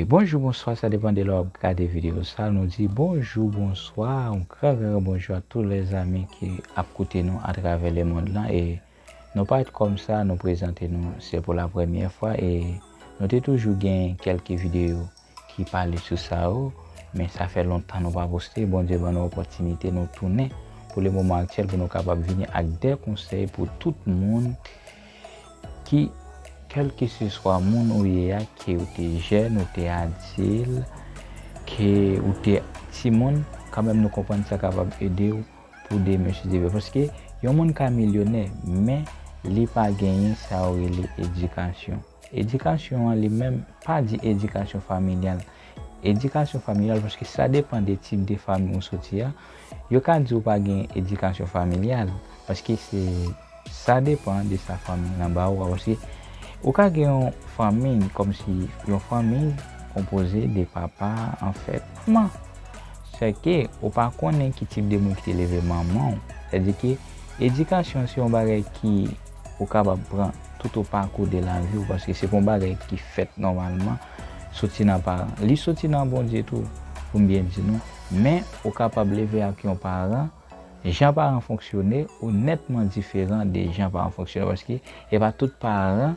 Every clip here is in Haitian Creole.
Bonjou bonswa sa depan de lè wap gade video sa nou di bonjou bonswa yon gran gran bonjou a tou lè zami ki ap koute nou atravè le mond lan e nou parèt kòm sa nou prezante nou se pou la premyè fwa e nou te toujou gen kelke video ki pale sou sa yo men sa fè lontan nou pa poste Bondye ban nou opòtinite nou tounen pou le moman aktyèl pou nou kapab vini ak de konsèy pou tout moun Ki kèlkeseswa moun ou ye a, ke ou te jèn, ou te adil, ke ou te timoun, kanmenm nou konprann sa kapab ede ou pou demen sou zile. Paske yon moun ka milyonè, men li pa genyen sa yo rele edikasyon. Edikasyon an li menm, pa di edikasyon familyal, Edikasyon familyal, paske sa depan de tip de fanmi ou soti a, yo ka di ou pa gen edikasyon familyal, paske se sa depan de sa fanmi lan ba ou a, paske ou ka gen yon fanmi, kòm si yon fanmi konpoze de papa an fèt, manman, sè ke ou pa konnen ki tip de moun ki te leve manman ou, sè di ke edikasyon se yon bagay ki ou kapab pran tout o pakou de lavi ou, paske se pa yon bagay ki fèt nòmalman, Soti nan paran. Li soti nan Bondye tou, pou m byen di nou. Men, ou kapab leve ak yon paran, jan paran fonksyone ou nètman diferan de jan paran fonksyone. Paske, e pa tout paran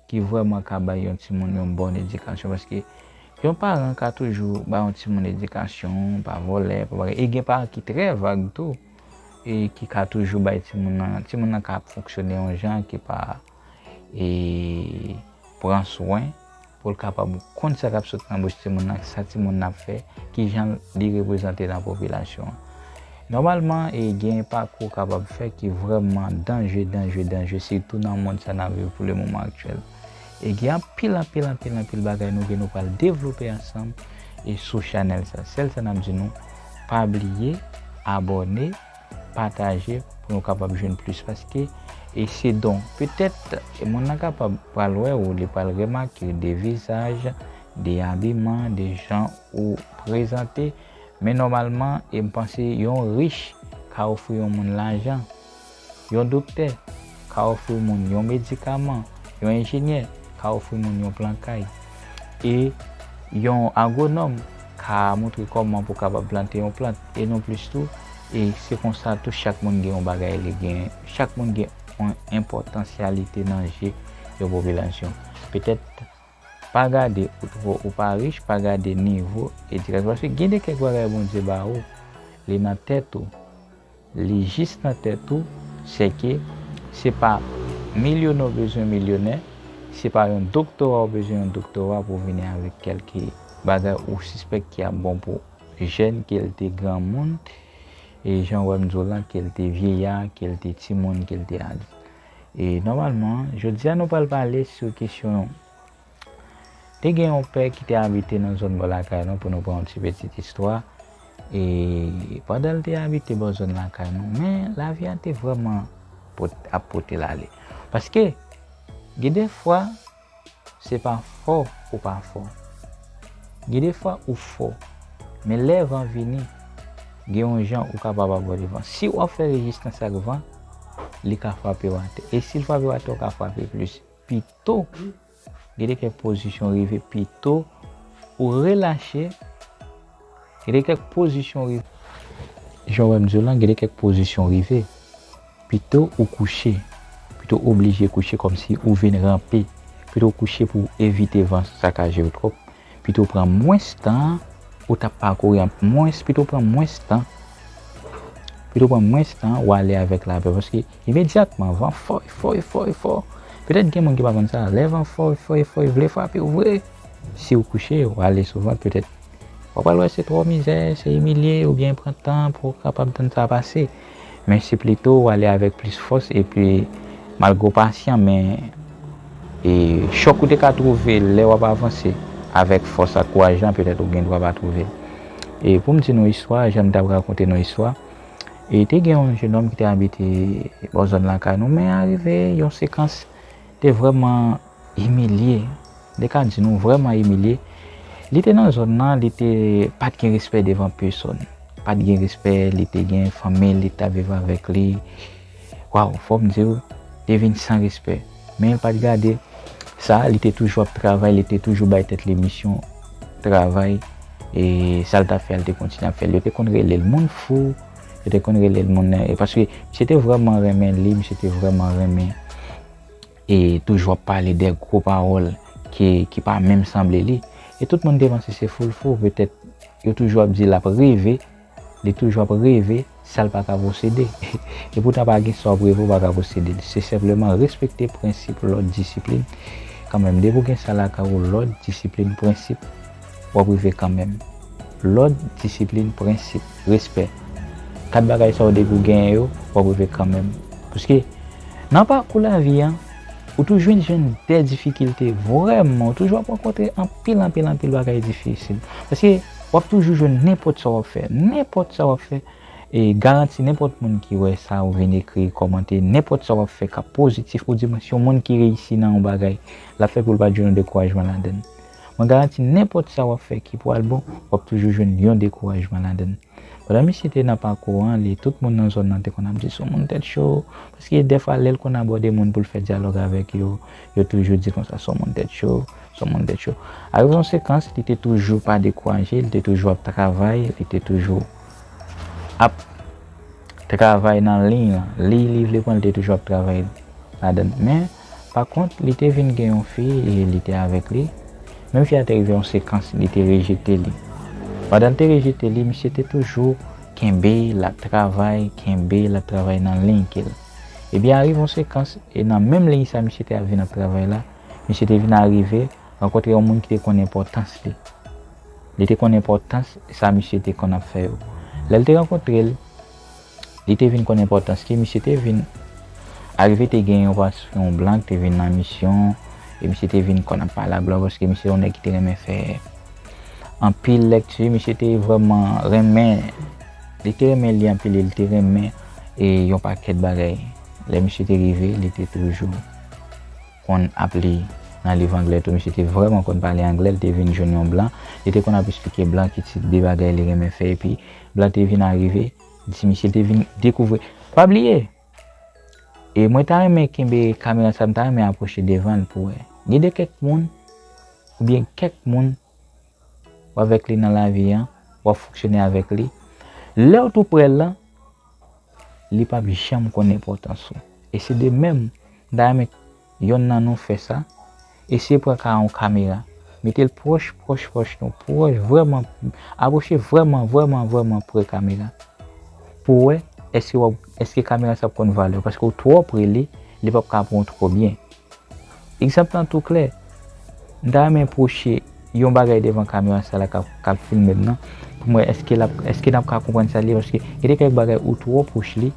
ki vrèman ka bay yon timoun yon bòn edikasyon. Paske, yon paran ka toujou bay yon timoun edikasyon, pa vòlè, pa bagay. E gen paran ki trè vag tou, e ki ka toujou bay timoun nan, timoun nan ka ap fonksyone yon jan ki pa. e pran swen pou l kapab konn sa k ap sot nan bouch timoun nan, sa timoun nan ap fè, ki jan li reprezante nan popilasyon an. Nòmalman, e gen pakou k ap ap fèt ki vrèman danje, danje, danje, sitou nan monn sa n ap viv pou le moman aktyèl. E gen anpil, anpil, anpil, anpil bagay nou gen nou pral devlope ansanm e sou chanèl sa. Sèl sa n ap di nou, pa bliye abòne. Pataje pou nou kapab jwenn plis paske e se don. Petèt moun nan kapab pral wè ou, li pral remake de vizaj, de abiman, de jan ou prezante. Men nòmalman e m panse yon rich ka ofri yon moun lajan, yon doktè ka ofri moun yon medikaman, yon enjenyè ka ofri moun yon plan kay. E yon agwonòm ka montre kòman pou kapab plante yon plant e non plis tou e se konsa tou chak moun gen yon bagay li gen chak moun gen yon enpòtansyalite nan je yon popilasyon petèt pa gade ou twò ou pa rich pa gade nivo edikasyon paske gen de kèk bagay Bondye ba ou li nan tèt ou Li jis nan tèt ou, sèke se pa milyonè w bezwen milyonè, se pa yon doktora w bezwen yon doktora pou w vini avèk kèlke bagay ou sispèk ki ap bon pou jèn ke l te granmoun, e jan w wè m di w lan ke l te vyeya, ke l te timoun, ke l te adilt. E nòmalman, jodi a nou pral pale sou kesyon. Te gen yon pè ki te abite nan zòn bò lakay nou pou nou pran yon ti pitit istwa. E pandan l te abite bò zòn lakay nou, men lavi a te vrèman ap pote l ale. Paske gen de fwa se pa fò ou pa fò. Gen de fwa ou fò. Men lè van vini, gen yon jan ou kapab abòde van. Si w ap fè rejistans ak van, li ka frape w atè. E si l frape w atè, ou ka frape plis. to. Gede kèk pozisyon rive pi to ou relache. Gede kèk pozisyon rive. Jan w wè m di w lan, gede kèk pozisyon rive pi to ou kouche. Pi to oblije kouche kòmsi ou vin ranpe. Pi to kouche pou evite van sakaje w twòp. pito pran mwens tan ou tap pakouri anpil mwens pito pran mwens tan pito pran mwens tan ou ale avèk lapè paske imedyatman van fò e fò e fò e fò petèt gen moun ki pa konn sa lè van fò e fò e fò e vle frape ou vre si ou kouche ou ale sou vant petèt wap pral wè se twò mizè se imilye oubyen pran tan pou kapab tann sa pase. Men se plito ou ale avèk plis fòs epi malgre ou pasyan men e chòk ou te ka twouve lè wap avanse avèk fòs ak kouraj lan petèt ou gen dwa pa twouve l. E poum di nou istwa jan m tap rakonte nou istwa e te gen yon jenòm ki te abite bò zòn lakay nou men arive yon sekans te vrèman Imilye, de ka di nou vrèman imilye, li te nan zòn nan li te pat gen respè devan pesòn, pat gen respè li te gen fanmil li tap viv avèk li, waw fòm diw te vin san respè menl pat gade sa li te toujou ap travay li te toujou bay tèt li misyon travay e sal tap fè li te kontinye ap fèl yo te konn relel moun fou yo te konn relel moun paske misye te vrèman renmen li misye te vrèman renmen. E toujou ap pale dè gro pawòl ke ki pa menm sanble li. E tout moun te panse se foul fou petèt yo toujou ap di lap reve, li toujou ap reve sal pa ka posede. E poutan pa gen sa wap reve ou pa ka posede. Se senpleman respekte prensip, lòd, disiplin. Kanmenm depi ou gen sa lakay ou lòd, disiplin, prensip. w ap rive kanmenm. Lòd, disiplin, prensip, respè. 4 bagay sa w depi w genyen yo, w ap rive kanmenm. Paske, nan pakou lavi an, ou toujou jwenn jwenn dè difikilte, vrèman, ou toujou ap rankontre anpil, anpil, anpil bagay difisil. Paske, w ap toujou jwenn nenpòt sa w ap fè, nenpòt sa w ap fè, e garanti nenpòt moun ki wè sa ou vin ekri, kòmante, nenpòt sa w ap fè k ap pozitif, ou di mwen si yon moun ki reyisi nan yon bagay, l ap fè pou l pa t jwenn yon dekourajman ladan l. Mwen garanti nenpòt sa wap fè ki pwal bon wap toujou jwenn yon dekourajman ladann. Pandan misye te nan pakou an li tout moun nan zòn nan te konn ap di son moun tèt cho paske dèfwa lèl konn abòde moun poul fè dyalòg avèk yo yo toujou di konsa son moun tèt cho son moun tèt cho ak zonsekans li te toujou pa dekouraje li te toujou ap travay li te toujou ap travay nan liy lan liy li vle pran li te toujou ap travay ladann men Pakont, li te vin gen yon fi e li te avèk li. Men fi a te rive yon sekans, li te rejete li. Pandan l te rejete li, misye te toujou kenbe l ap travay, kenbe l ap travay nan liy ke l. Ebyen arive yon sekans, e nan menm liy sa misye te ap vin ap travay la, misye te vin arive rankontre yon moun ki te konn enpòtans li. Li te konn enpòtans sa misye te konn ap fè yo. Lè l te rankontre l, Li te vin konn enpòtans ke misye te vin arive te gen yon pas yon blan ki te vin nan misyon e misye te vin konn ap pale ak blan paske misye se yon nèg ki te renmen fè anpil lèkti misye te vrèman renmen li te renmen li anpil e li te renmen e yon pakèt bagay lè misye te rive li te toujou konn ap li nan liv anglè tou misye te vrèman konn pale anglè li te vin jwenn yon blan li te konn ap esplike blan ki tip de bagay li renmen fè epi Blan te vin arive, ti misye te vin dekouvri. Pa bliye! E mwen ta renmen kenbe kamera sa, m ta renmen apwoche devan l pou wè. Gen de kèk moun, oubyen kèk moun, w avèk li nan lavi an, w ap fonksyone avèk li, lè w tou prè l lan, li p ap janm konn enpòtans ou. E se de menm, m ta renmen. Yonn nan nou fè sa. Eseye pran ka yon kamera. Mete l pwòch, pwòch, pwòch nou. Pwòch vrèman. Apwoche vrèman, vrèman, vrèman pre kamera. Pou wè èske wap, èske kamera sa ap konn vale w. Paske ou twò pre li, li pap ka pran w twò byen. Egzanp lan tou klè. M ta renmen pwoche. Yon bagay devan kamyon a sa la kap filmem nan poum wè eske lap eske nap ka konprann sal ye paske gen de kèk bagay ou twò pwoch li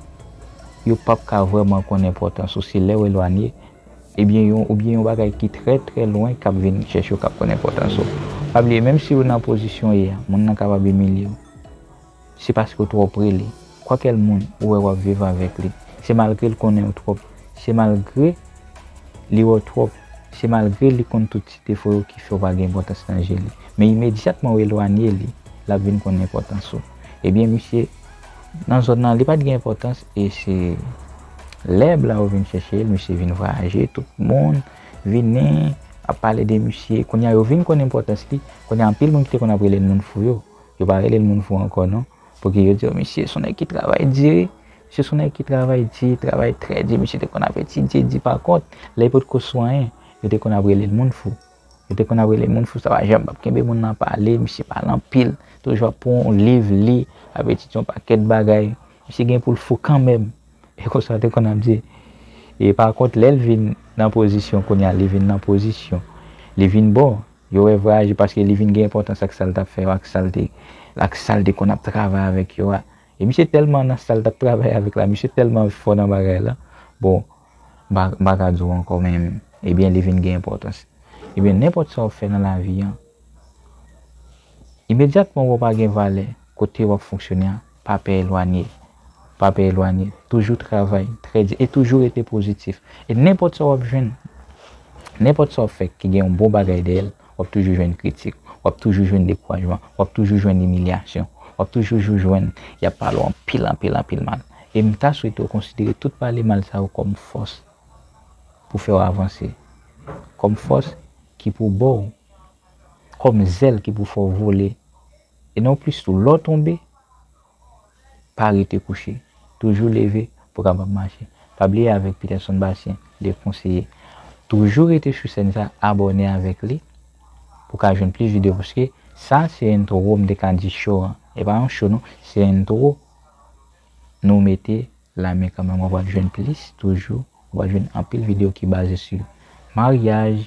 yo pap ka vrèman konn enpòtans ou se lèw elwanye ebyen yon oubyen yon bagay ki trè trè lwen kap vin chèche w kap konn enpòtans ou pa bliye menm siw nan pozisyon ye a moun nan kapab imilyew. Se paske w twò pre li. Kwakèl moun ou wè w ap viv avèk li. Se malgre l konnen w twòp. Se malgre li wè w twòp. Se malgre li konn tout ti defo yo ki fè w pa gen enpòtans nan je li. Men imedyatman w elwanye li, l ap vin konnen enpòtans ou. Ebyen misye nan zòn nan li pa t gen enpòtans e se lè blan yo vin chèche l misye vin vwayaje tout moun vini ap pale de misye. Kounye a yo vin konnen enpòtans li. Kounye a anpil moun ki te konn ap rele l moun fou yo. Yo pa rele l moun fou ankò non. Pouki yo di yo misye son nèg ki travay di wi. Misye son nèg ki travay di, travay trè di. Misye te konn ap etidye di pa kont. Lè li potko sou anyen, yo te konn ap rele l moun fou. Yo te konn ap rele l moun fou sa pa janm ap kenbe moun nan pale. Misye pale anpil. Toujou ap pran yon liv li, ap etidye yon pakèt bagay. Misye gen pou l fou kanmenm. E konsa yo te konn ap di. E pa kont lè l vin nan pozisyon kounye a, li vin nan pozisyon. Li vin bon, Yo wè vrè aji paske li vin gen enpòtans ak sa l t ap fè yo ak sa l te ak sa l te konn ap travay avèk yo a. E misye tèlman nan sa l t ap travay avèk la, misye tèlman fò nan bagay la, bon, m pa m pa ka di w ankò men ebyen li vin gen enpòtans. Ebyen nenpòt sa w fè nan lavi an, imedyatman ou wè w pa gen valè kote w ap fonksyone a. Pa pè elwanye. Pa pè elwanye. Toujou travay trè di e toujou rete pozitif. E nenpòt sa w ap jwenn, nenpòt sa w ap fè ki gen yon bon bagay dèyè l, w ap toujou jwenn kritik, w ap toujou jwenn dekourajman, w ap toujou jwenn imilyasyon, w ap toujou jou jwenn y ap pale w anpil anpil anpil mal. E m ta swete w konsidere tout pale mal sa yo kòm fòs pou fè w avanse, kòm fòs ki pou ba w, kòm zèl ki pou fè w vole. E nan plis tou, lè w tonbe, pa rete kouche. Toujou leve pou w kapab mache. Pa bliye avèk Peterson Bastien, de konseye. Toujou rete sou sèn sa, abòne avèk li pou w ka jwenn plis videyo paske sa se entwo m te ka di show an. E pa yon show non, se entwo nou mete la men kanmenm. Ou pral jwenn plis toujou, ou pral jwenn anpil videyo ki baze sou maryaj,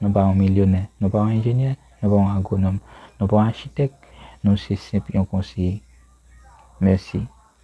Nou pa yon milyonè, nou pa yon enjenyè, nou pa yon agwonòm, nou pa yon achitèk, nou se senp yon konseye. Mèsi.